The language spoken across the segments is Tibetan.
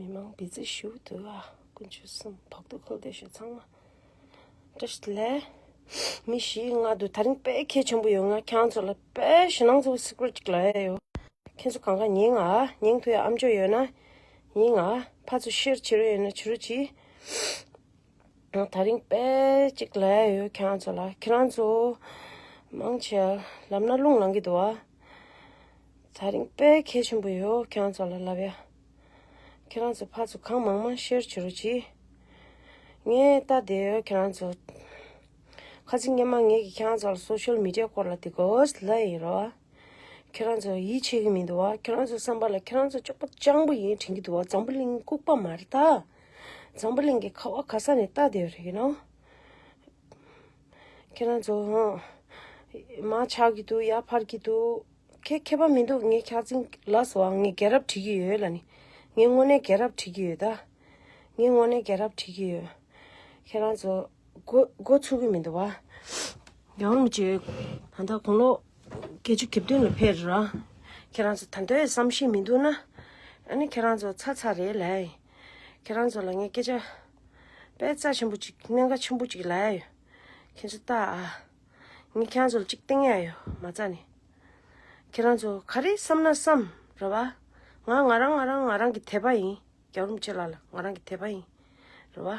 མི་མང་བི་ཛི་ཞུ་དུ་བ་ཀུན་ཆུ་གསུམ་བོག་ཏུ་ཁུལ་དེ་ཞུ་ཚང་མ་དྲི་ཞི་ལེ་མི་ཞི་ང་དུ་ད་རིང་པེ་ཁེ་ཆེན་པོ་ཡོ་ང་ཁྱང་ཚོ་ལ་པེ་ཞི་ནང་ཚོ་སི་ཀུར་ཅིག་ལ་ཡ་ཡོ་ཁྱེན་ཚོ་གང་ག་ཉིང་ང་ཉིང་དུ་ཡ་ཨམ་ཅོ་ཡོ་ན་ཉིང་ང་ཕ་ཚོ་ཤེར་ཆི་རུ་ཡོ་ན་ཆི་རུ་ཅི། ད་རིང་དཔེ་གཅིག་ལས་ཡོད་ཁྱེད་རང་ཚོ་ལ་ཁྱེད་རང་ཚོ་མང་ཆེ་ལབ་ན་རླུང་ལང་གི་འདུག་བ་ད་རིང་དཔེ་གལ་ཆེན་པོ་ཡོད་ཁྱེད་རང་ཚོ་ལ་ལབ་ཡ་ཁྱེད་རང་ཚོ་ཕར་ཚོ་གང་མང་མང་ཤེར་བྱེད་རོ་གྱིས་ངས་ལྟ་བསྡད་ཡོད་ཁྱེད་རང་ཚོ་ཁ་ཚིག་སྙན་མ་ངས་ཀྱི་ཁྱེད་རང་ཚོ་ལ social media སྐོར་ལ་དེ་གོས་ལ་ཡིན་རོ་བ་ཁྱེད་རང་ཚོ་ཡིད་ཆེས་གི་མི་འདུག་བ་ཁྱེད་རང་ཚོ་བསམ་པ་ལ་ཁྱེད་རང་ཚོ་ཅོག་པ་སྤྱང་པོ་ཡིན་དྲན་གི་འདུག་བ་འཛམ་བུ་གླིང་ལྐུག་པ་མ་རེད་ད། འཛམ་བུ་གླིང་གི་ཁ་བ་ག་ས་ནས་བཏགས་བསྡད་རེད་ན། ཁྱེད་རང་ཚོ། མ་ཆགས་ཀྱི་འདུག་ཡ་ཕར་གྱི་འདུག་ཁྱེད་མཁས་པ་མི་འདུག་ངས་ཁྱག་ཚིང་ལ་སོགས་ངས་རྒྱལ་རབས་བྲིས་ཀྱི་ཡོད་ལ་ནི། ངས་དངོས་གནས་རྒྱལ་རབས་བྲིས་ཀྱི་ཡོད་ད། ངས་དངོས་གནས་རྒྱལ་རབས་བྲིས་ཀྱི་ཡོད། ཁྱེད་རང་ཚོ། མགོ་མགོ་ཚུགས་ཀྱི་མི་འདུག་བ། ཡང་རུང་བྱས། ད་ལྟ་དགུང་ལོ། བརྒྱད་ཅུ་གྱ་བདུན་ལ་ཕེབས་ར། ཁྱེད་རང་ཚོ་ད་ལྟའི་བསམ་ཤེས་མི་འདུག་ན། ཨ་ནི་ཁྱེད་རང་ཚོ་ཚ་ཚ་རེད་ལ། ཁྱེད་རང་ཚོ་ལ་ངས་སྐད་ཆ་དཔེ་རྩ་ཆེན་པོ་གཅིག་གནད་འགག་ཆེན་པོ་གཅིག་ལབ་ཡ་ཡོད། ཁྱེད་ཚོ་ལྟ་ཨ། ངས་ཁྱེད་རང་ཚོ་ལ་གཅིག་བསྟན་ཡ་ཡོད་མ་རྩ་ནས། ཁྱེད་རང་ཚོ་ག་རེ་བསམ་ན་བསམ་ར་བ། ང་ང་རང་ང་རང་ང་རང་གི་དད་པ་ཡིན། རྒྱ་རུམ་ཆེ་ལགས་ལ་ང་རང་གི་དད་པ་ཡིན་ར་བ།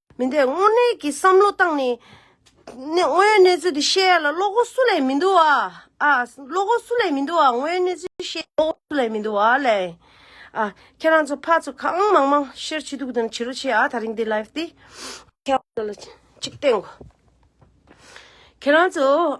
མི་འདོད་དངོས་གནས་ཀྱི་བསམ་བློ་བཏང་ནས། དངོས་ཡོད་གནས་ཚུལ་དེ་བཤད་ཡ་ལ་བློ་སྒོ་སུ་ལས་མི་འདུག་ཨ། ཨ། བློ་སྒོ་སུ་ལས་མི་འདུག་ཨ་དངོས་ཡོད་གནས་ཚུལ་བཤད་ཡ་ལ་བློ་སྒོ་སུ་ལས་མི་འདུག་ཨ་ལས། ཨ། ཁྱེད་རང་ཚོ་ཕ་ཚོ་གང་མང་མང་ཤེར་བྱེད་འདུག་དོན་ཇི་རུ་ཆེ་ཨ་ད་རིང་འདི live འདི། ཁྱེད་རང་ཚོ།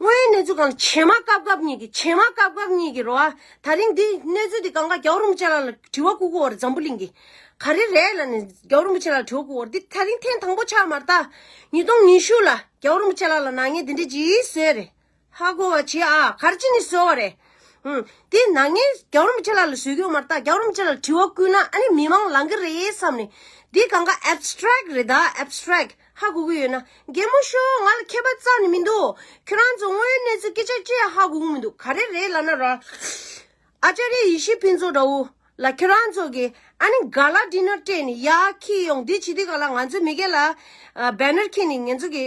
དངོས་ཡོད་གནས་ཚུལ་གང་བྱེ་མ་སྐབས་སྐབས་གཉིས་ཀྱི་བྱེ་མ་སྐབས་སྐབས་གཉིས་ཀྱི་རོ་ཨ། ད་རིང་འདི་གནས་ཚུལ་འདི་གང་ག་རྒྱའུ་རིན་པོ་ཆེ་ལགས་ལ་དྲི་བ་ཁུག་ཁུག་འོར་འཛམ་བུ་གླིང་གི། ག་རེ་རེད་ལ་ནི་རྒྱའུ་རིན་པོ་ཆེ་ལགས་ལ་དྲི་བ་ཁུག་འོར་འདི་ད་རིང་ཐེངས་དང་པོ་ཆགས་མ་རྟ། ཉིས་སྟོང་ཉི་ཤུ་ལ་རྒྱའུ་རིན་པོ་ཆེ་ལགས་ལ་ནག་ཉེས་འདི་འདྲའི་ཇི་བཟོས་རེད། ཧ་གོ་བ་བྱེད་ཨ་གར་ཅི་ནས་བཟོས་བ་རེད། ཧུན། འདི་ནག་ཉེས་རྒྱའུ་རིན་པོ་ཆེ་ལགས་ལ་བཟོས་ཀྱིའོ་མ་རྟ་རྒྱའུ་རིན་པོ་ཆེ་ལགས་ལ་དྲི་བ་བསྐུལ་ན་ཨ་ནི་མི་མང་ལང་གི་རེད་བསམ་ནས་འདི་གང་ག abstract རེད་ད abstract། ཧ་གོ་གི་ཡོད་ན་གད་མོ་ཤོར་ང་ལ་མཁས་པ་རྩ་ནས་མི་འདུག་ཁྱོད་རང་ཚོ་དངོས་ཡོད་གནས་ཚུལ་སྐད་ཆ་ཅི་ཡང་ཧ་གོ་གི་མི་འདུག་ག་རེ་རེད་ལབ་ན་ར། Acharya ཡེ་ཤེས་ཕུན་ཚོགས་དགྲ་བོ། ལ་ཁྱོད་རང་ཚོ་གི་ཨ་ནི་ག་ལ་བྲིས་ནོར་སྤྲད་ནས་ཡག་ཁྱི་ཡོང་འདི་བྱེད་འདི་ག་ལ་ང་ཚོའི་མི་སྒེར་ལ། Banner ཁྱེར་ནས་ངེད་ཚོ་གི།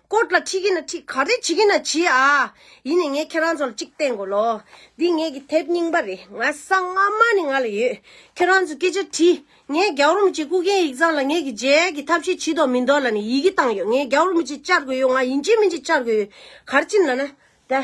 ཀོརྟ་ལ་ཁྲིད་གིན་ན་ཁྲིད་ག་རེ་བྱེད་གིན་ན་བྱེད་ཨ། ཡིན་ནས་ངས་ཁྱེད་རང་ཚོ་ལ་གཅིག་བསྟན་དགོས་ལོ། འདི་ངེད་ཀྱི་དེབ་རྙིང་པ་རེད་ང་ས་སྔ་མ་ནས་ང་ལ་ཡོད། ཁྱེད་རང་ཚོས་སྐད་ཆ་དྲིས། ངས་རྒྱ་རོ་མི་ཆེ་སྐུ་མཁྱེན་ཡིག་ཚང་ལ་ངེད་ཀྱི་རྗེས་ཡལ་གྱི་ཐབས་ཤེས་བྱིས་དོགས་མི་འདོགས་ལ་ནས་ཡི་གེ་བཏང་ཡོད་ངས་རྒྱ་རོ་མི་ཆེ་བཅར་དགོས་ཡོད་ང་ཡིན་ཆེ་མིན་ཆེ་བཅར་དགོས་ཡོད་གར་ཕྱིན་ལ་ན་ད།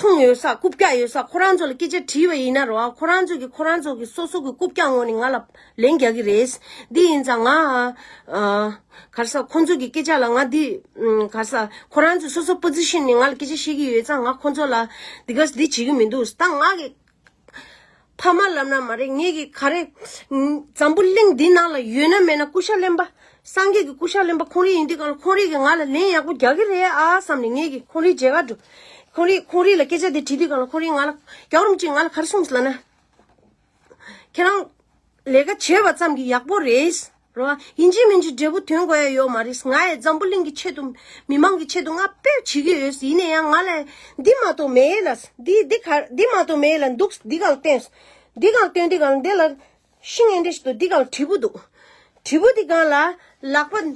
མཐོང་ཡོད་ས་རྐུབ་བཀྱག་ཡོད་ས་ཁོ་རང་ཚོ་ལ་སྐད་ཆ་དྲིས་པ་ཡིན་ན་རོགས་ཁོ་རང་ཚོ་གིས་ཁོ་རང་ཚོ་གི་སོ་སོ་གི་རྐུབ་བཀྱག་ངོ་ནས་ང་ལ་ལན་རྒྱག་གི་རེད། འདི་ཡིན་ཙང་ང་གར་ས་ཁོང་ཚོ་གི་སྐད་ཆ་ལ་ང་འདི་གར་ས་ཁོ་རང་ཚོ་སོ་སོ་པོ་ཛི་ཤི་ནས་ང་ལ་སྐད་ཆ་བཤད་ཀྱི་ཡོད་ཙང་ང་ཁོང་ཚོ་ལ་འདི་ག་འདི་བྱེད་ཀྱི་མི་འདུག་ད་ང་གི་ཕ་མ་ལབ་ན་མ་རེད་ངེད་ཀྱི་ག་རེ། འཛམ་བུ་གླིང་འདི་ནང་ལ་ཡོད་ན་མེད་ན་སྐུ་ཤ་ལེན་པ། སངས་རྒྱས་ཀྱི་སྐུ་ཤ་ལེན་པ་ཁོང་རིགས་ཡིན་དུས་གང་ལ་ཁོང་རིགས་ཀྱིས་ང་ལ་ལན་ཡག་པོ་རྒྱག་གི་རེད་ཨ་བསམ་ནས་ངེད་ཀྱིས་ཁོང་རིགས་མཇལ་ཁར་འགྲོ། ཁོང་རིགས་ཁོང་རིགས་ལ་སྐད་ཆ་དེ་དྲིས་དུས་གང་ལ་ཁོང་རིགས་ང་ལ། རྒྱག་རོ་མི་གཅིག་ང་ལ་ག་རེ་གསུངས་ཟེར་ན། ཁྱེད་རང། ལས་ཀ་བྱས་པ་ཙམ་གྱིས་ཡག་པོ་རེད། རེད་བ། ཡིན་གྱི་མིན་གྱི་འབྲས་བུ་དོན་གོ་ཡ་ཡོད་མ་རེད། ང་ཡི་འཛམ་བུ་གླིང་གི་ཆེད་དུ། མི་མང་གི་ཆེད་དུ་ང་ཕེབས་བྱེད་ཀྱི་ཡོད། ཡིན་ན་ཡང་ང་ལ། འདི་མ་གཏོགས་མེད་ཡས་ལ། འདི་འདི་ག། འདི་མ་གཏོགས་མེད་ཡས་ལ་འདུག། འདི་གང་སྟོན། འདི་གང་སྟོན་འདི་གང་འདི་ལ། ཤིང་ཨེ་འདྲེ་ཞིག་འདུག་འདི་གང་དྲིལ་བུ་འདུག། དྲིལ་བུ་འདི་གང་ལ། ལག་པ།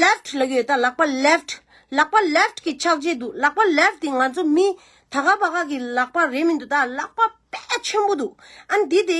left། ལ་ཡོད་ད་ལག་པ left། ལག་པ left གི་ཕྱག་རྗེས་འདུག་ལག་པ left དེ་ང་ཚོ་མི། ད་ག་བ་ག་གི་ལག་པ་རེད་མི་འདུག་ད་ལག་པ་དཔེ་ཆེན་པོ་འདུག་ཨ་འདི་དེ།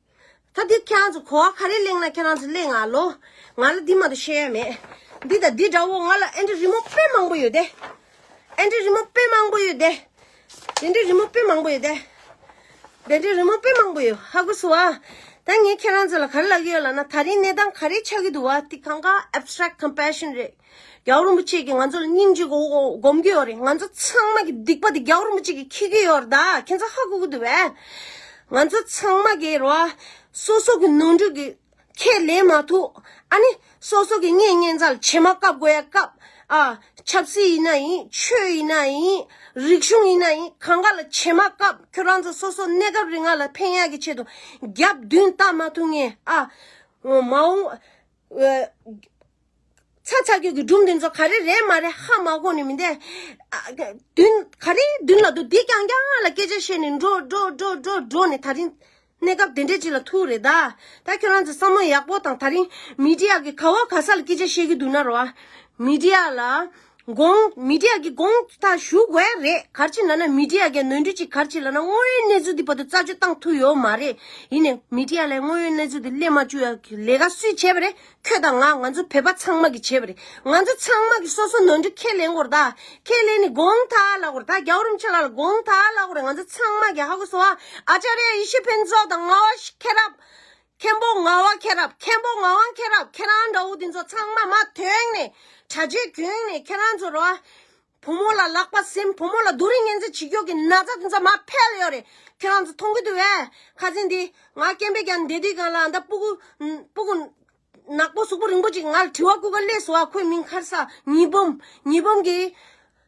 ད་འདི་ཁྱེད་རང་ཚོ་གོ་བ་ག་རེ་གླེང་ན་ཁྱེད་རང་ཚོ་གླེང་ང་ལོ། ང་ལ་འདི་མ་གཏོགས་ཤེས་ཡ་མེད། འདི་དང་འདི་འདྲ་བོ་ང་ལ་ཨེ་འདྲ་རི་མོ་དཔེ་མང་པོ་ཡོད་དེ། ཨེ་འདྲ་རི་མོ་དཔེ་མང་པོ་ཡོད་དེ། དེ་འདྲའི་རི་མོ་དཔེ་མང་པོ་ཡོད་དེ། དེ་འདྲའི་རི་མོ་དཔེ་མང་པོ་ཡོད་ཧ་གོ་སོང་ཨ། ད་ངས་ཁྱེད་རང་ཚོ་ལ་ག་རེ་ལབ་ཀྱི་ཡོད་ལབ་ན་ད་རིང་གནས་སྟངས་ག་རེ་ཆགས་ཀྱི་འདུག་བ་དེ་གང་གཱ Abstract Compassion རེད། རྒྱ་བོ་རིན་པོ་ཆེ་གིས་ང་ཚོ་ལ་སྙིང་རྗེ་སྒོམ་གྱི་ཡོད་རེད་ང་ཚོ་ཚང་མ་གི་སྡིག་པ་དེ་རྒྱ་བོ་རིན་པོ་ཆེ་གིས་འཁྱེར་གྱི་ཡོད་རེད་ད་ཁྱེད་ཚོ་ཧ་གོ་གི་འདུག་བས། ང་ཚོ་ཚང་མ་གི་རོ། སོ་སོ་གི་ནོར་འཁྲུལ་གི་ཁས་ལེན་མ་ཐུབ། ཨ་ནི། སོ་སོ་གི་སྙན་སྙན་ཚ་ལ་ཕྱེ་མ་བཀབ་དགོས་ཡ་བཀབ། ཨ། ཆབ་སྲིད་ཡིན་ན་ཡིན་ཆོས་ཡིན་ན་ཡིན། རིག་གཞུང་ཡིན་ན་ཡིན་གང་ག་ལ་ཕྱེ་མ་བཀབ་ཁྱོད་རང་ཚོ་སོ་སོ་གནས་སྐབས་རིང་ང་ལ་ཕན་ཡག་གི་ཆེད་དུ་རྒྱབ་མདུན་བལྟ་མ་ཐུབ་ངེས་ཨ། མ་འོངས། ཚ་ཚ་ཁྱོད་ཀྱི་སྒྲུང་འདི་ཚོ་ག་རེ་རེད་མ་རེད་ཧ་མ་གོ་ནི་མི་འདེད། བདུན་ག་རེའི་བདུན་ལ་འདུག་འདི་རྐྱང་རྐྱང་ལ་སྐད་ཆ་བཤད་ནི་འགྲོ་འགྲོ་འགྲོ་འགྲོ་འགྲོ་ནི་ད་རིང་གནས་སྐབས་དེ་འདྲས་ཅིག་ལ་ཐུག་རེད་ད། ད་ཁྱོད་རང་ཚོས་བསམ་བློ་ཡག་པོ་དང་ད་རིང་མི་དྲི་ཡ་གི་ག་བ་ག་ས་ལ་སྐད་ཆ་བཤད་ཀྱི་འདུག་ན་རོ། མི་དྲི་ཡ་ལ་དགོངས། མི་དེ་ཡ་གི་དགོངས་དག་ཞུ་དགོས་རེད་གར་ཅིག་ལ་ན་མི་དེ་ཡ་གི་ནོན་འཁྲུལ་ཅིག་གར་ཅིག་ལ་ན་དངོས་ཡོད་གནས་ཚུལ་དེ་བར་དུ་རྩ་གཅོད་བཏང་ཐུབ་ཡོད་མ་རེད་ཡིན་ནས་མི་དེ་ཡ་ལ་ཡང་དངོས་ཡོད་གནས་ཚུལ་དེ་སླེབས་མ་བཅུག་ཡ་གི་ལས་ཀ་སུས་བྱས་པ་རེད་ཁྱོད་དང་ང་ང་ཚོ་བོད་པ་ཚང་མ་གི་བྱས་པ་རེད་ང་ཚོ་ཚང་མ་གི་སོ་སོ་ནོན་འཁྲུལ་ཁས་ལེན་དགོས་རེད་ད་ཁས་ལེན་ནི་དགོངས་དག་ལ་དགོས་རེད་ད་རྒྱ་བོ་རིན་ཆེན་ལགས་ལ་དགོངས་དག་ལ་དགོས་རེད་ང་ཚོ་ཚང་མ་གི་ཧ་གོ་སོ་ཨ་ཨ་ཅཱ་རེ་ཡེ་ཤེས་ཕུན་ཚོགས་དང་རྔ་བ་ཤི་ཁེ་རབ། མཁན་པོ་ང་བ་མཁན་རབས་མཁན་པོ་ང་བ་མཁན་རབས་ཁྱེད་རང་འདྲ་བོ་འདི་ཚོ་ཚང་མ་མ་དོན་ནས་བྱ་རྗེས་རྒྱུན་ནས་ཁྱེད་རང་ཚོ་ར་བ་བུ་མོ་ལ་ལག་པ་སིམ་བུ་མོ་ལ་རྡུ་རི་གཉན་ཚད་བྱེད་རྒྱུ་གི་ན་ཚ་འདི་ཚོ་མ་ཕལ་ཡོད་རེད་ཁྱེད་རང་ཚོ་མཐོང་གི་འདུག་བས་ཁ་ཟས་འདི་ང་སྐྱེན་པས་ཀྱང་འདས་དུས་གང་ལ་ཨ་མདའ་སྤུ་གུ་སྤུ་གུ་ནག་པོ་གཟུགས་པོ་རིང་པོ་ཅིག་ང་ལ་དྲི་བ་བསྐུར་ག་གླེས་བཟོ་བ་ཁོའི་མིང་ཁར་ས་ཉིས་འབུམ་ཉིས་འབུམ་གྱི།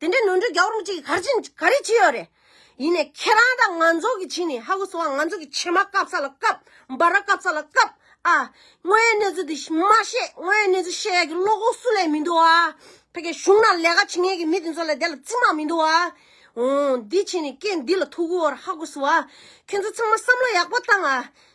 དེ་འདྲའི་ནོར་འཁྲུལ་རྒྱ་གུར་མི་གཅིག་གིས་ག་རེ་བྱས་ཡོད་རེད། ཡིན་ནས་ཁྱེད་རང་དང་ང་ཚོ་གི་བྱས་ནས་ཧ་གོ་སོང་ང་ཚོ་གི་ཕྱེ་མ་བཀབ་ས་ལ་བཀབ་འབའ་ར་བཀབ་ས་ལ་བཀབ་ཨ། དངོས་ཡོད་གནས་ཚུལ་འདི་མ་བཤད་དངོས་ཡོད་གནས་ཚུལ་བཤད་ཡག་གི་བློ་ཁོག་སུ་ལས་མི་འདུག་ཨ། ཕ་གི་གཞུང་ན་ལས་ཀ་བྱེད་མཁན་གི་མི་དེ་ཚོ་ལས་དེ་ལ་རྩིས་མ་མི་འདུག་ཨ། འོང་འདི་བྱས་ནས་སྐད་འདི་ལ་ཐུག་གོ་ཧ་གོ་སོང་ཨ། ཁྱོད་ཚོ་ཚང་མ་བསམ་བློ་ཡག་པོ་བཏང་ཨ།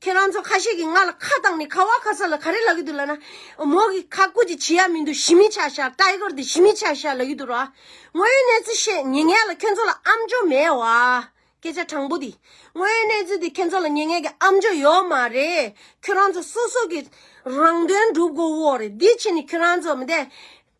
ཁྱེད་རང་ཚོ་ཁ་ཤས་ཀྱིས་ང་ལ་ཁ་བཏང་ནས་ཁ་བ་ཁ་ས་ལ་ག་རེ་ལབ་ཀྱི་འདུག་ལབ་ན། མོ་གིས་ཁ་བསྐུར་གྱི་བྱེད་ཡ་མི་འདུག་ཞི་མི་ཆགས་ཤག Tiger དེ་ཞི་མི་ཆགས་ཤག་ལབ་ཀྱི་འདུག་རོ། དངོས་ཡོད་གནས་ཚུལ་བཤད་ཉེ་ངས་ལ་ཁྱོད་ཚོ་ལ་ཨམ་ཅོག་མེད་བ། སྐད་ཆ་དྲང་པོ་དེ། དངོས་ཡོད་གནས་ཚུལ་དེ་ཁྱོད་ཚོ་ལ་ཉེ་ངས་ཀྱི་ཨམ་ཅོག་ཡོད་མ་རེད། ཁྱོད་རང་ཚོ་སོ་སོ་གྱི་རང་དོན་སྒྲུབ་དགོས་བོ་རེད་འདི་ཕྱི་ནས་ཁྱོད་རང་ཚོ་མི་དེ།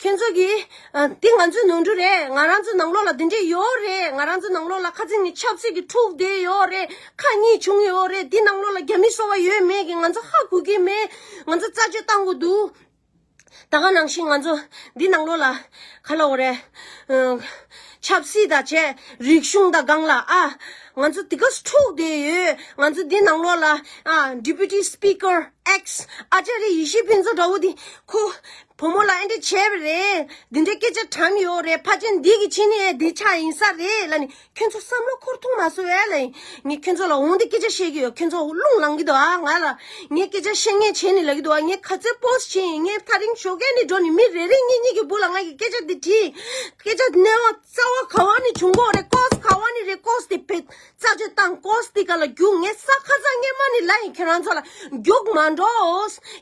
ཁྱེད་ཚོ་གིས། འདི་ང་ཚོའི་ནོར་འཁྲུལ་རེད། ང་རང་ཚོའི་ནང་ལོགས་ལ་འདི་འདྲས་ཡོད་རེད། ང་རང་ཚོའི་ནང་ལོགས་ལ་ཁ་ཚིག་ནི་ཆབ་སྲིད་ཀྱི་འཁྲུག་འདས་ཡོད་རེད། ཁ་གཉིས་བྱུང་ཡོད་རེད། འདི་ནང་ལོགས་ལ་རྒྱ་མི་སོ་བ་ཡོད་མེད་ཀྱི་ང་ཚོ་ཧ་གོ་གི་མེད། ང་ཚོ་རྩ་གཅོད་བཏང་གི་འདུག། ད་ག་ནང་བཞིན་ང་ཚོ་འདི་ནང་ལོགས་ལ། ག་ལ་འོ་རེད། ཆབ་སྲིད་དང་བཅས་རིག་གཞུང་དང་སྒང་ལ་ཨ། ང་ཚོ་དེ་ག་སུ་འཁྲུག་འདས་ཡོད། ང་ཚོ་འདི་ནང་ལོགས་ལ། Deputy Speaker X། ཨ་ཅག་རི་ཡེ་ཤེས་ཕུན་ཚོགས་འདྲ་བོ་འདི། ཁོ། བུ་མོ་ལ་ཨེ་འདྲས་བྱས་པ་རེད། འདི་འདྲའི་སྐད་ཆ་དྲངས་ཡོད་རེད་ཕ་ཆེན་འདི་གི་ཕྱི་ནས་འདི་ཆ་ཡིན་ས་རེད་ལ་ནི་ཁྱོད་ཚོ་བསམ་བློ་འཁོར་ཐུང་མ་སོད་ཨེ་ལ་ཡིན། ངས་ཁྱོད་ཚོ་ལ་འོང་འདི་སྐད་ཆ་བཤད་ཀྱི་ཡོད་ཁྱོད་ཚོ་རླུང་ལངས་ཀྱི་འདུག་ཨ་ང་ལ་ངས་སྐད་ཆ་བཤད་ངས་བྱས་ནི་ལབ་ཀྱི་འདུག་ཨ་ངས་ག་ཚོད་པོ་ཞིག་བྱས་ཡིན་ངས་ཐག་རིང་ཞོགས་ཀན་ནས་འགྲོ་ནི་མི་རེ་རེ་ངེད་གཉིས་ཀྱི་བུ་ལ་ང་གི་སྐད་ཆ་འདི་དྲིས། སྐད་ཆ་ནི་ཨོ་རྩ་བ་ག་བ་ནས་བྱུང་གོ་རེ་ཀོས་ག་བ་ནས་རེད་ཀོས་དེ་བེད། རྩ་བཅོས་དང་ཀོ་སྟི་ཀ་ལ་རྒྱུགས་ངས་ས་ཁ་ཚ་ངན་མ་ནི་ལ་ཡིན་ཁྱེད་རང་ཚོ་ལ་རྒྱུགས་མ་འགྲོ་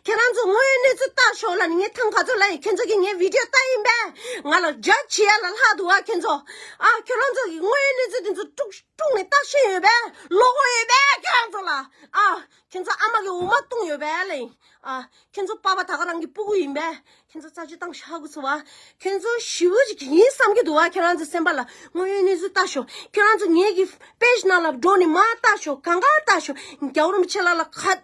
ཁྱེད་རང་ཚོ་དངོས་ཡོད་གནས་ཚུལ་བལྟ་ཞོག་ལ་ནི་ངས་ཐང་ག་ཚོ་ལ་ཡིན་ཁྱེད་ཚོ་གིས་ངའི་བིད་དེའོ་ལྟ་ཡིན་པས་ང་ལ་རྒྱ་ཆེ་ཡ་ལ་ལྷག་འདུག་ཨ་ཁྱེད་ཚོ་ཨ་ཁྱོད་རང་ཚོ་གིས་དངོས་ཡོད་གནས་ཚུལ་དེ་ཚོ་དཀྲུགས་དཀྲུགས་ནས་ལྟ་བཞིན་ཡོད་པས་བློ་ཁོག་ཡོད་པས་ཁྱེད་རང་ཚོ་ལ་ཨ་ཁྱེད་ཚོ་ཨ་མ་གི་འོ་མ་བཏུང་ཡོད་པས་ལ་ཡིན་ཨ་ཁྱེད་ཚོ་པ་པ་ད་ག་རང་གི་སྤུ་གུ་ཡིན་པས་ཁྱེད་ཚོ་རྩ་ཆུ་བཏང་ཤག་གི་ཚོ་བ། ཁྱོད་ཚོ་ཞི་བུ་ཅིག་ཡིན་བསམ་གྱི་འདུག་བ་ཁྱོད་རང་ཚོའི་སེམས་པ་ལ་དངོས་ཡོད་གནས་ཚུལ་ལྟ་ཞོག་ཁྱོད་རང་ཚོ་ངེད་ཀྱི Page ནང་ལ་འགྲོ་ནས་མ་ལྟ་ཞོག་གང་གང་ལྟ་ཞོག་རྒྱ་རོམ་ཆེ་ལ་ལ་ག་ཚོད་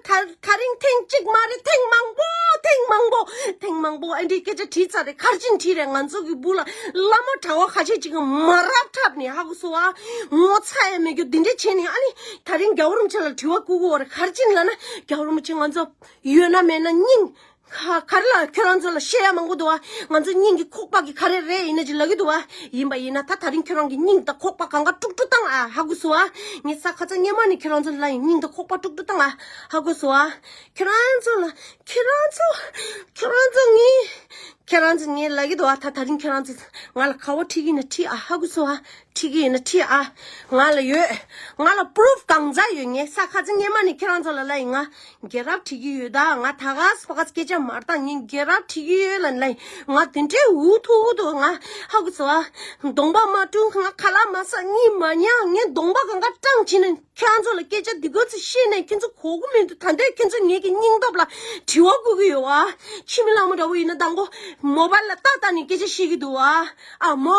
ད་ད་རིང་ཐེངས་གཅིག་མ་རེད་ཐེངས་མང་པོ་ཐེངས་མང་པོ་ཐེངས་མང་པོ་ཨ་འདྲའི་སྐད་ཆ་བྲིས་ཚར་རེད་ཁར་ཅིན་བྲིས་རེད་ང་ཚོ་གི་བུ་ལ་ལ་མོ་གྲྭ་བ་ཁ་ཤས་ཅིག་གིས་མ་རབས་འཁྲབ་ནས་ཧ་གི་ཚོ་བ། ངོ་ཚ་ཡ་མེད་རྒྱུ་འདི་འདྲས་བྱས་ནས་ཨ་ནི་ད་རིང་རྒྱ་རོམ་ཆེ་ལ་དྲི་བ་བཀུག་གི་འོ་རེད་ཁར་ཅིན་ལ་ན་རྒྱ་རོམ་ཆེ་ང་ཚོ་ཡོད་ན་མེད་ན་སྙིང། ཁ་ཁར་ལ་ཁྱོད་རང་ཚོ་ལ་བཤད་ཡ་མང་པོ་འདུག་ང་ཚོ་སྙིང་གི་ཁོག་པག་གི་ཁ་རེ་རེ་ཡིན་ན་ཅིག་ལབ་ཀྱི་འདུག་ཡིན་པ་ཡིན་ན་ད་ད་རིང་ཁྱོད་རང་གི་སྙིང་དང་ཁོག་པག་གང་ག་དཀྲུག་དཀྲུག་བཏང་ཨ་ཧ་གོ་སོ་ངའི་ས་ཁ་ཚ་སྙན་མ་ནི་ཁྱོད་རང་ཚོ་ལ་ཡིན་སྙིང་དང་ཁོག་པག་དཀྲུག་དཀྲུག་བཏང་ཨ་ཧ་གོ་སོ་ཁྱོད་རང་ཚོ་ལ་ཁྱོད་རང་ཚོ་ཁྱོད་རང་ཚོ་ངའི་ཁྱོད་རང་ཚོ་ངའི་ལབ་ཀྱི་འདུག་ད་ད་རིང་ཁྱོད་རང་ཚོ་ང་ལ་ཁ་བ་ཁྲིད་ཀྱི་ནི་ཁྲིད་ཨ་ཧ་གོ་སོ་ཁྲིག་གི་ཡིན་ན་ཁྲིག་ཨ། ང་ལ་ཡོད། ང་ལ Proof གང་འཛག་ཡོད་ངའི་ས་ཁ་ཚི་སྙེ་མ་ནི་ཁྱེད་རང་ཚོ་ལ་ལ་ཡིན་ང་རྒྱལ་རབས་ཁྲིག་གི་ཡོད་ད་ང་ད་ག་ཟི་ཕ་ག་ཚི་སྐད་ཆ་མར་བཏང་ངའི་རྒྱལ་རབས་ཁྲིག་གི་ཡོད་ལ་ལ་ཡིན་ང་དེ་འདྲའི་འུ་ཐུག་འུ་ཐུག་ང་ཧ་གོ་ཚི་བ། གདོང་པ་མ་བཀྲུ་ང་ཁ་ལག་མ་ཟག་གཉིད་མ་མྱངས་ངའི་གདོང་པ་གང་ག་སྐྲངས་ཕྱིན་ན་ཁྱེད་རང་ཚོ་ལ་སྐད་ཆ་འདི་གོ་ཚི་ཤེས་ནས་ཁྱེད་ཚོ་གོ་གི་མི་འདུག་ད་འདོད་ཁྱེད་ཚོ་ངེད་ཀྱི་སྙིང་སྟོབས་ལ་དྲི་བ་བསྐུལ་གི་ཡོད་བ། ཁྱི་མི་ལག་མོ་འདྲ་བོ་ཡིན་ན་ད་མགོ་མོ་བར་ལ་ལྟ་ལྟ་ནས་སྐད་ཆ་བཤད་གི་འདུག་བ། ཨ་མོ།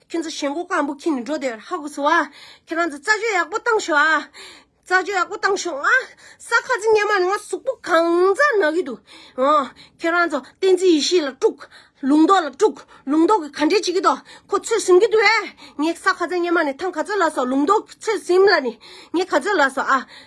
ཁྱོད་ཚོ་ཞེན་གོ་ཀང་པོ་ཁྱི་ནི་འགྲོ་དེ་ཧ་གོ་སོ་ཨ། ཁྱེད་རང་ཚོ་རྩ་གཅོད་ཡག་པོ་བཏང་ཤོག་ཨ། རྩ་གཅོད་ཡག་པོ་བཏང་ཤོག་ཨ། ས་ཁ་ཚི་སྙན་མ་ནི་ང་གཟུགས་པོ་གང་མཛའ་ན་གི་འདུག་ཨ། ཁྱེད་རང་ཚོ་བསྟན་འཛིན་ཡེ་ཤེས་ལ་དཀྲུག། ལུང་རྟོགས་ལ་དཀྲུག་ལུང་རྟོགས་ཀི་ག་འདྲས་བྱེད་ཀི་འདུག་ཁོ་ཚོས་ཟིན་གི་འདུག་ཨེ། ངས་ས་ཁ་ཚ་སྙན་མ་ནི་ཐང་ག་ཚོད་ལ་སོགས་ལུང་རྟོགས་ཁོ་ཚོས་ཟིན་ལ་ནི་ངས་ག་ཚོད་ལ་སོགས་ཨ།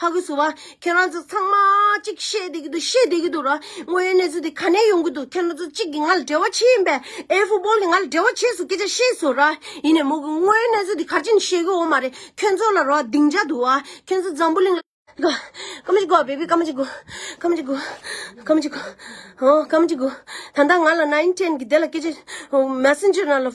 ཧ་གོ་སུ་བ། ཁྱེད་རང་ཚོ་ཚང་མ་ཅིག་བཤད་དེ་གི་འདུག་བཤད་དེ་གི་འདུག་ར་དངོས་ཡོད་གནས་ཚུལ་དེ་ག་ནས་ཡོང་གི་འདུག་ཁྱེད་རང་ཚོ་ཅིག་གི་ང་ལ་འབྲེལ་བ་ཆེ་ཡིན་པས་ཨེ་ཧྥུ་སྦོལ་ནི་ང་ལ་འབྲེལ་བ་ཆེ་སུ་སྐད་ཆ་བཤད་སུ་ར་ཡིན་ནས་མོ་གི་དངོས་ཡོད་གནས་ཚུལ་དེ་ག་ཅིག་ནས་བཤད་གི་འོ་མ་རེད་ཁྱོད་ཚོ་ལ་རོ་སྡིངས་ཆ་འདུག་བ་ཁྱོད་ཚོ་འཛམ་བུ་གླིང་ལ། ག་ཀ་མ་ཅིག་གོ་བ་བེ་བི་ཀ་མ་ཅིག་གོ། ཀ་མ་ཅིག་གོ། ཀ་མ་ཅིག་གོ། ཧོ་ཀ་མ་ཅིག་གོ། ད་ལྟ་ང་ལ་ནཱིན་ཀྲེན་གི་དེ་ལ་སྐད་ཆ། Messenger ནང་ལ།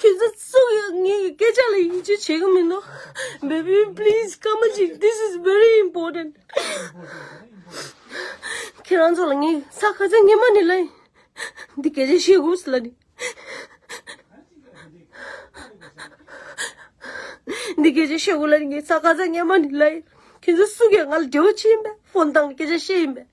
ཁྱེད་ཚོ་སུ་ཡིན་ངའི་སྐད་ཆ་ལ་ཡིད་ཆེས་བྱེད་ཀྱི་མིན་ནོ། baby please སྐར་མ་གཅིག this is very important། ཁྱེད་རང་ཚོ་ལ་ངའི་ས་ཁ་ཚ་ངེ་མ་ནས་ལ་ཡིན། འདི་སྐད་ཆ་བཤད་དགོས་སུ་ལ་ནི། འདི་སྐད་ཆ་བཤད་དགོས་ལ་ནི་ངའི་ས་ཁ་ཚ་ངེ་མ་ནས་ལ་ཡིན། ཁྱེད་ཚོ་སུ་ཡིན་ང་ལ་འབྲེལ་བ་ཅི་ཡིན་པས་ཕོན་བཏང་ནས་སྐད་ཆ་བཤད་ཡིན་པས།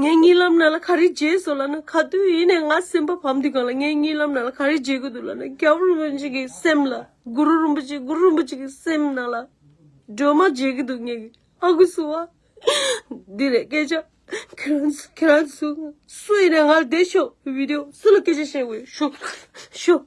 ངའི་རྨི་ལམ་ནང་ལ་ག་རེ་བརྗེད་སོང་ལ་ན་ག་དུས་ཡིན་ནས་ང་སེམས་པ་བམ་དུས་གང་ལ་ངའི་རྨི་ལམ་ནང་ལ་ག་རེ་བརྗེད་དགོས་འདུག་ལ་ན་རྒྱལ་པོ་རིན་པོ་ཆེ་གི་སེམས་ལ་གུ་རུ་རིན་པོ་ཆེ་གུ་རུ་རིན་པོ་ཆེ་གི་སེམས་ནང་ལ་སྒྲོལ་མ་བརྗེད་ཀྱི་འདུག་ངའི་ཨ་ཁུ་སུ་བ། འདི་རེད་སྐད་ཆ། ཁྱེད་རང་ཚོ་ཁྱེད་རང་ཚོ་སུ་ཡིན་ནས་ང་ལ་བསྡད་ཤོག་བིད་དེ་སུ་ལ་སྐད་ཆ་བཤད་དགོས་ཡོད་ཤོག་ཤོག།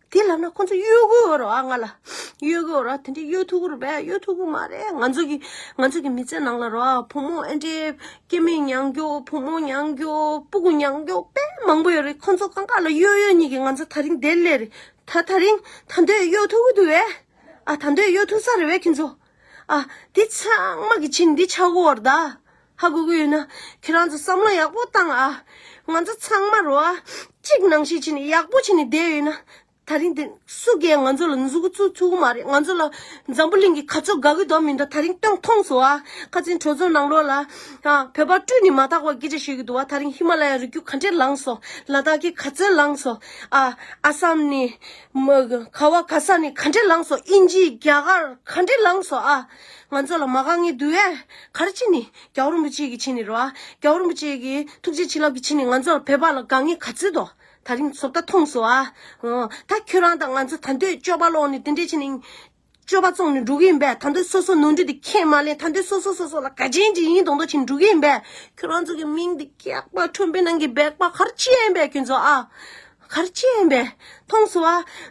དེ་ལབ་ན་ཁོ་ཚོ་གཡོ་གུ་འོ་རོགས་ཨ་ང་ལ་གཡོ་གུ་འོ་རོགས་དེ་འདྲའི་གཡོ་ཐུག་གུ་རུ་བས་གཡོ་ཐུག་གུ་མ་རེད་ང་ཚོ་གི་ང་ཚོ་གི་མི་ཚེ་ནང་ལ་རོགས་ཨ་བུ་མོ་ཨེ་འདྲའི་སྐྱེ་མེད་མྱང་རྒྱུ་བུ་མོ་མྱང་རྒྱུ་སྤུ་གུ་མྱང་རྒྱུ་དཔེ་མང་པོ་ཡོད་རེད་ཁོ་ཚོ་གང་ག་ལ་གཡོ་གཡོ་གཉིས་ཀྱི་ང་ཚོ་ད་རིང་བདེ་ལེ་རེད་ད་ད་རིང་ད་འདོད་གཡོ་ཐུག་གུ་དུ་བས་ཨ་ད་འདོད་གཡོ་ཐུག་ས་རེད་བས་ཁྱེད་ཚོ་ཨ་འདི་ཚང་མ་གི་ཆིན་འདི་ཆག་གུ་འོ་ར་ད། ཧ་གོ་གི་ཡོད་ན་ཁྱེད་རང་ཚོ་བསམ་བློ་ཡག་པོ་བཏང་ཨ། ང་ཚོ་ཚང་མར་རོ་ཨ། གཅིག་ནང་བཞིན་བྱས་ནས་ཡག་པོ་བྱས་ནས་བསྡད་ཡོད་ན། ད་རིང་འདིར་སུ་སྒེར་ང་ཚོ་ལ་འཛུགས་གི་ཚུགས་ཚུགས་གི་མ་རེད་ང་ཚོ་ལ། འཛམ་བུ་གླིང་གི་ག་ཚོད་དགའ་གི་དོག་མི་འདུག་ད་རིང་སྟོན་མཐོང་སོ་ཨ། ཁ་ཆེན་གྲོས་ཚོགས་ནང་ལོགས་ལ། བོད་པ་སྤྲུལ་ནས་མ་དག་པ་སྐད་ཆ་བཤད་གི་འདུག་བ་ད་རིང་ཧི་མ་ལ་ཡ་རི་རྒྱུད་ག་འདྲས་ལངས་སོ། ལ་དྭགས་ཀྱི་ག་ཚོད་ལངས་སོ་ཨ། ཨ་སམ་ནས། ག་བ་ག་ས་ནས་ག་འདྲས་ལངས་སོ་ཨིན་ཇིའི་རྒྱ་གར་ག་འདྲས་ལངས་སོ་ཨ། ང་ཚོ་ལ་མ་ག་ངའི་འདུལ་བས་གར་ཕྱིན་ནི། རྒྱལ་བ་རིན་པོ་ཆེ་གི་ཕྱིན་ནི་རོ། རྒྱལ་བ་རིན་པོ་ཆེ་གི་ཐུགས་རྗེ་བྱིན་རླབས་ཀྱི་ཕྱིན་ནི་ང་ཚོ་ལ་བོད་པ་ལ་ག་ངའི་ག་ཚོད་དོ། ད་རིང་ཚོ་ད་ཐོངས་སོ་ཨ། ད་ཁྱོད་རང་དང་ང་ཚོ་ད་འདོད་སྤྱོད་པ་ལོག་ནས་དེ་འདྲས་བྱིན་ནི། སྤྱོད་པ་བཙོང་ནས་འགྲོ་གི་ཡིན་པས་ད་འདོད་སོ་སོ་ནོར་འཁྲུལ་དེ་ཁས་མ་ལེན་ད་འདོད་སོ་སོ་སོ་སོ་ལ་ག་ཅན་ཅི་ཡིན་གདོང་འདོག་བྱིན་འགྲོ་གི་ཡིན་པས་ཁྱོད་རང་ཚོ་གི་མིང་དེ་སྐྱག་པ་ཁྲོན་པའི་ནང་གི་སྦེག་པ་གར་ཕྱིན་པས་ཁྱོད་ཚོ་ཨ། ཁར་སྐྱེས་ཡིན་པས་མཐོང་སོ།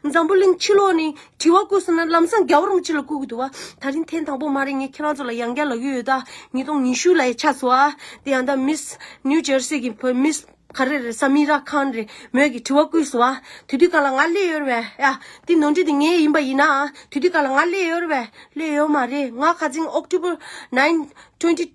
འཛམ་བུ་གླིང་ཕྱི་ལོགས་ནས་དྲི་བ་བཀོད་སོང་ན་ལམ་སང་རྒྱ་གར་མོ་ཅི་ལ་བཀོད་གི་འདུག་བ། ད་རིང་ཐེངས་དང་པོ་མ་རེད་ངས་ཁྱེད་རང་ཚོ་ལ་ཡང་བསྐྱར་ལབ་ཀྱི་ཡོད་ད། ཉིས་སྟོང་ཉི་ཤུ་ལ་ཡ་ཆ་སོ། དེ་ཡང་ད་མིས New Jersey གི་བུ་མིས་ག་རེ་རེད Samira Khan རེད་མོས་ཀྱི་དྲི་བ་བཀོད་སོང་བ། དུས་དུས་ག་ལ་ང་སླེ་ཡོད་བས། ཡ། དེ་ནོར་འཁྲུལ་དེ་ངའི་ཡིན་པ་ཡིན་ན། དུས་དུས་ག་ལ་ང་སླེ་ཡོད་བས། སླེ་ཡོད་མ་རེད་ང་ཁ་ཚིང October nine twenty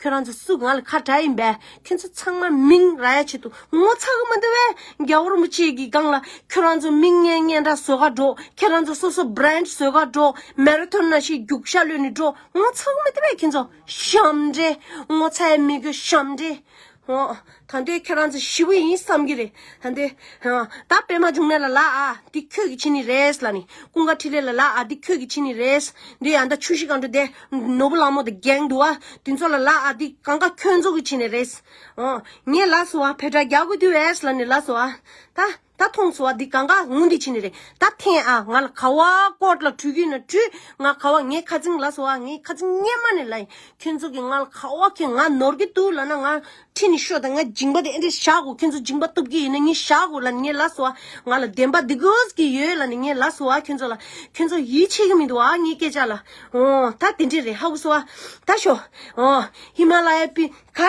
ཁྱོད་རང་ཚོ་སུ་ང་ལ་ཁ་གྲགས་ཡིན་པས་ཁྱོད་ཚོ་ཚང་མ་མིང་ར་ཡ་བྱེད་དུ་ངོ་ཚ་གི་མི་འདུག་བས་རྒྱ་གོར་མོ་བཅས་ཀྱི་སྒང་ལ་ཁྱོད་རང་ཚོ་མིང་སྙན་སྙན་འདྲ་བཟོ་ག་འགྲོ་ཁྱེད་རང་ཚོ་སོ་སོ Brand བཟོ་ག་འགྲོ Marathon ན་ཤི་རྒྱུག་ཤ་ལོས་ནི་འགྲོ་ངོ་ཚ་གི་མི་འདུག་བས་ཁྱོད་ཚོ་ཞམ་འདྲེ་ངོ་ཚའི་མི་དགོས་ཞམ་འདྲེ། ད་ལྟའི་ཁྱེད་རང་ཚོ་ཞི་བུ་ཡིན་བསམ་གྱི་རེད། ད་ལྟའི། ད་པད་མ་འབྱུང་གནས་ལ་ལགས་ཨ། འདི་ཁྱོད་ཀྱི་ཕྱི་ནི་རེད། ལ་ནི། ཀུན་དགའ་ཕྲིན་ལས་ལ་ལགས་ཨ། འདི་ཁྱོད་ཀྱི་ཕྱི་ནི་རེད། འདི་ཡང་ད་ཆུ་བཞི་སྒང་དྲུག་སྡེ། ནོར་བུ་གླང་མོ་དང་གྱེས་འདུག་ཨ། དེ་ཚོ་ལ་ལགས་ཨ། འདི་གང་ག་ཁྱོད་ཚོ་གི་ཕྱི་ནི་རེད། ངས་ལགས་སོ་ཨ། བེ་དྲག་རྒྱག་དགོས་དུས་རེད། ལ་ནི་ལགས་སོ་ཨ། ད། ད་མཐོང་སོ་བ་འདི་གང་ག་ངུ་འདི་ཕྱི་ནས་རེད་ད་ཐེངས་ཨ་ང་ལ་ཁ་བ་བསྐོར་ལ་བྲུས་གིན་ན་བྲུས་ང་ཁ་བ་ངས་ཁ་རྫིང་ལ་སོ་ཨ་ངས་ཁ་རྫིང་སྙེ་མ་ནས་ལ་ཡིན་ཁྱོད་ཚོ་གིས་ང་ལ་ཁ་བ་ཁྱོད་ང་ནོར་གི་འདུག་ལ་ན་ང་ཁྲིད་ནས་ཤོ་ད་ང་སྦྱིན་པ་དེ་ཨེ་འདྲས་བཞག་གོ་ཁྱོད་ཚོ་སྦྱིན་པ་གཏུབ་གི་ཡིན་ན་ངས་བཞག་གོ་ལ་ནི་ངས་ལ་སོ་ཨ་ང་ལ་བདེན་པ་འདི་དགོས་ཀྱི་ཡོད་ལ་ནི་ངས་ལ་སོ་ཨ་ཁྱོད་ཚོ་ལ་ཁྱོད་ཚོ་ཡིད་ཆེས་གི་མི་འདུག་ཨ་ངས་སྐད་ཆ་ལ་འོ་ད་དེ་འདྲས་རེད་ཧ་གོ་སོ་ཨ་ད་ཤོ་འོ་ཧི་མ་ལ་ཡའི་པི་ཁ།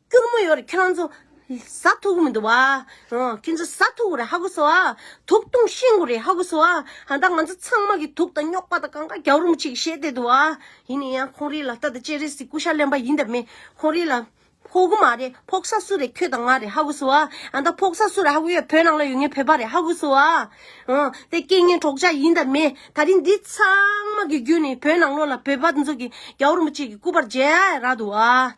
སྐྱུར་མོ་ཡོད་རེད་ཁྱོད་རང་ཚོ། ཟ་ཐུག་གི་མི་འདུག་བ། ཁྱོད་ཚོ་ཟ་ཐུག་གི་རེད་ཧ་གོ་སོ། དུག་བཏུང་ཤིང་གི་རེད་ཧ་གོ་སོ། ད་ང་ཚོ་ཚང་མ་གི་དུག་དང་རྙོག་པ་དང་གང་ག་རྒྱག་རུང་ཅིག་བྱེད་བསྡད་འདུག་བ། ཡིན་ནས་ཡང་ཁོང་རིགས་ལ་ལྟ་དང་ཅེ་རེ་སི་སྐུ་ཤ་གླེན་པ་ཡིན་དང་མེད། ཁོང་རིགས་ལ། ཕོག་གི་མ་རེད་ཕོག་ས་སུ་རེད་ཁྱོད་དང་ང་རེད་ཧ་གོ་སོ། ད་ཕོག་ས་སུ་རེད་ཧ་གོ་ཡོད་བོད་ནང་ལ་ཡོད་ངའི་བོད་པ་རེད་ཧ་གོ་སོ། དེ་སྐད་ངན་གྲོགས་ཅག་ཡིན་དང་མེད་ད་རིང་འདི་ཚང་མ་གི་རྒྱུད་ནས་བོད་ནང་ལོག་ལ་བོད་པ་འདི་ཚོ་གི་རྒྱག་རུང་ཅིག་གི་སྐུ་པར་མཇལ་ཡ་རག་འདུག་བ།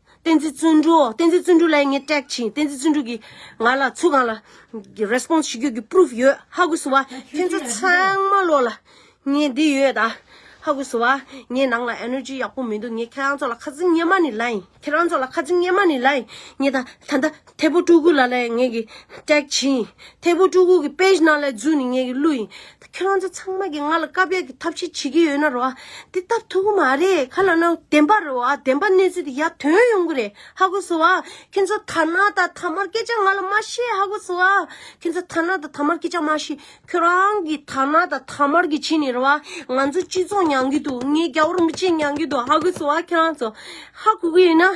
བསྟན་འཛིན་བརྩོན་འགྲུས་ཨོ་བསྟན་འཛིན་བརྩོན་འགྲུས་ལ་ངས་སྐྲག་ཕྱིན་བསྟན་འཛིན་བརྩོན་འགྲུས་ཀྱིས་ང་ལ་ཚུར་གང་ལ Response བྱེད་རྒྱུ་ཀྱི Proof ཡོད་ཧ་གོ་ཟི་བ་ཁྱེད་ཚོ་ཚང་མ་ལོག་ལ་ངས་འདི་ཡོད་ད་ཧ་གོ་ཟི་བ་ངས་ནང་ལ Energy ཡག་པོ་མི་འདུག་ངས་ཁྱེད་རང་ཚོ་ལ་ཁ་ཟི་ཉན་མ་ནི་ལ་ཡིན་ཁྱེད་རང་ཚོ་ལ་ཁ་ཟི་ཉན་མ་ནི་ལ་ཡིན་ངས་ད་ད་ད་ཐད་པོ་སྤྲུལ་སྐུ་ལ་ལས་ངེད་ཀྱི་སྐྲག་བྱེད་ཡིན། ཐད་པོ་སྤྲུལ་སྐུ་གི་དཔེ་གཞི་ནང་ལས་རྫུན་ནི་ངེད་ཀྱི་བསླུ་ཡིན། ཁྱོད་རང་ཚོ་ཚང་མ་གིས་ང་ལ་བཀའ་ཕེབས་ཀྱི་ཐབས་ཤེས་བྱེད་ཀྱི་ཡོད་ན་རེད་བ། དེ་སྟབས་ཐུག་གི་མ་རེད་ཁ་ལ་ན་བདེན་པ་རེད་བ་བདེན་པ་གནས་ཚུལ་དེ་ཡར་དོན་ཡོང་གི་རེད་ཧ་གོ་སོང་བ། ཁྱོད་ཚོ་ཐ་ན་ད་ཐ་མར་སྐད་ཆ་ང་ལ་མ་བཤད་ཧ་གོ་སོང་བ། ཁྱོད་ཚོ་ཐ་ན་ད་ཐ་མར་སྐད་ཆ་མ་བཤད་ཁྱོད་རང་གིས་ཐ་ན་ད་ཐ་མར་གྱི་ཕྱིན་ནས་རེད་བ། ང་ཚོ་སྤྱི་ཚོགས་མྱང་གི་འདུག་ངའི་རྒྱ་བོར་མི་གཅིག་མྱང་གི་འདུག་ཧ་གོ་སོང་བ་ཁྱོད་རང་ཚོ། ཧ་གོ་གི་ཡོད་ན།